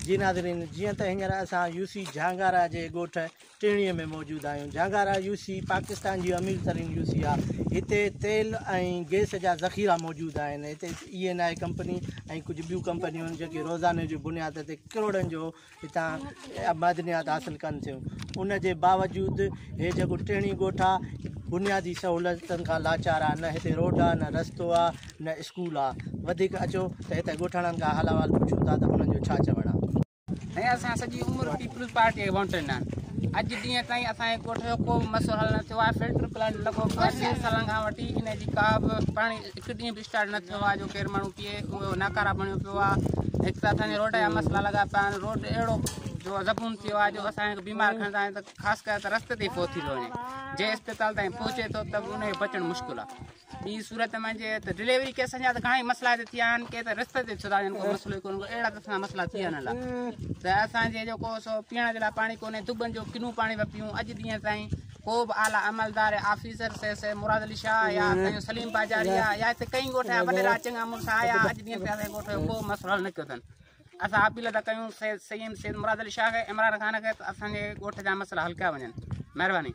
جي ناظرين جيئن ته هينئر اسان يوسي جهانگارا جي ڳوٺ ٽيڻي ۾ موجود آهيون. جهانگارا يو سي پاڪستان جي امير ترين يو سي آهي. هتي تيل ۽ گئس جا ذخيرا موجود آهن. هتي اي اين آء ڪمپني ۽ ڪجهه ٻيون ڪمپنيون جيڪي روزاني جي بنياد تي ڪروڙن جو هتان معدنيات حاصل ڪن ٿيون. ان جي باوجود هي جيڪو ٽيڻي ڳوٺ آهي بنيادي سهولتن کان لاچار آهي. نه هتي روڊ آهي، نه رستو آهي، نه اسڪول آهي. وڌيڪ اچو ته هتي ڳوٺاڻن کان حال احوال پڇون ٿا ته انهن جو ڇا چوڻ آهي. ۽ اسان سڄي عمر پيپلز پارٽي کي ووٽ ڏنا اڄ ڏينهن تائين اسان جي ڳوٺ جو ڪو به مسئلو حل نه ٿيو آهي فلٽر پلانٽ لڳو پيو آهي ٽي سالن کان وٺي ان جي ڪا به پاڻي هڪ ڏينهن به اسٽارٽ نه ٿيو آهي جو ڪير ماڻهو پيئي اهو ناڪارا بڻيو پيو آهي هڪ ته اسان جي روڊ جا مسئلا لڳا پيا آهن روڊ اهڙو جو زبون ٿيو آهي جو اسان کي بيمار کڻندا آهن ته خاص ڪري ته رستي تي فوت ٿي ٿو وڃي جنهن اسپتال تائين پهچي ٿو ته ان کي بچڻ مشڪل آهي ٻي صورت ۾ جي ته ڊليوري ڪيسن جا ته گھڻا ئي مسئلا هتي ٿيا آهن ڪي ته رستي تي ڇڏا آهن ڪو مسئلو ڪونه ڪو اهڙا ته مسئلا ٿي ويا آهن ته اسان جي جيڪو سو پيئڻ جي لاء پاڻي ڪونهي دٻن جو ڪنو پاڻي پيا پيئون اڄ ڏينهن تائين ڪو به اعليٰ عملدار officer C C Murad Ali Shah يا سائين سليم باجاري آ يا هتي ڪئين ڳوٺ جا وڏيرا چڱا مڙس آيا اڄ ڏينهن تائين اسان ڳوٺ جو ڪو مسئلو حل نه ڪيو اٿن اسان اپيل ٿا ڪيون سيد سيد مراد علي شاهه کي عمران خان کي ته اسان جي ڳوٺ جا مسئلا حل ڪيا وڃن مهرباني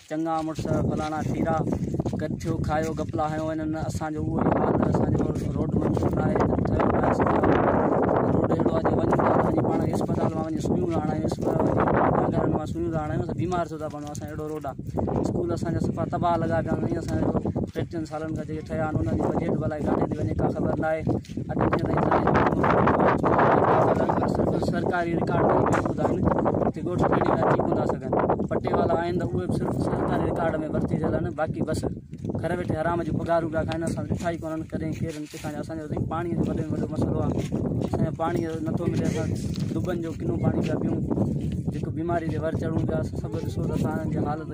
چڱا مڙس فلاڻا ٿيرا گڏ ٿيو کايو گپلا هنيو انهن اسان جو اهو حال آهي اسان جو روڊ منظور ناهي ٺهيو ناهي روڊ اهڙو آهي جو وڃون ٿا ته وڃي پاڻ اسپتال مان وڃي سوئيون رهاڻا آهيون اسپتال ڊاڪٽرن مان سوئيون رهاڻا آهيون بيمار ٿيو ٿا پوڻ اسان اهڙو روڊ آهي اسڪول اسان جا صفا تباهه لڳا پيا آهن ۽ اسان جو ٽي ٽن سالن کان جيڪي ٺهيا آهن انهن جو بجيٽ به الائي ڪاٿي ٿي وڃي ڪا خبر نه آهي اڄ جيئن تائين زمين جو ڪم نه ٿيو آهي چونڊ جا ڪاغذ اڄ به صرف سرڪاري رڪارڊ تي ئي محفوظ آهن جي ڳوٺ کڻي ته اچي ڪونه ٿا سگهن پٽي والا آهن ته اهي به صرف سرڪاري رڪارڊ ۾ ڀرتي ٿيل آهن باقي بس گهر ويٺي حرام جون پگهارون پيا کائن اسان ڏٺا ئي ڪونهن ڪڏهن ڪيرن ڪٿان اسان جو سائين پاڻي جو وڏي ۾ وڏو مسئلو آهي اسان جو پاڻي نٿو ملي اسان دٻن جو ڪنو پاڻي پيا پيئون جيڪو بيماري تي ور چڙهون پيا سڀ ڏسو ته اسان جي حالت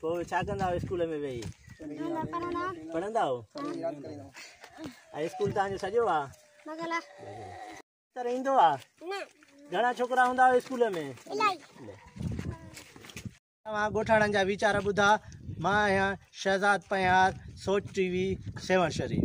پوء ڇا ڪندا آهيو اسڪول ۾ ويهي پڙهندا آهيو ۽ اسڪول تان جو سڄو آ رهندو آ گهڻا ڇوڪرا هوندا آهيو اسڪول ۾ اوهان ڳوٺاڻن جا ويچار ٻڌا مان آهيان شهزاد پنهار سوچ ٽي وي سيوهڻ شريف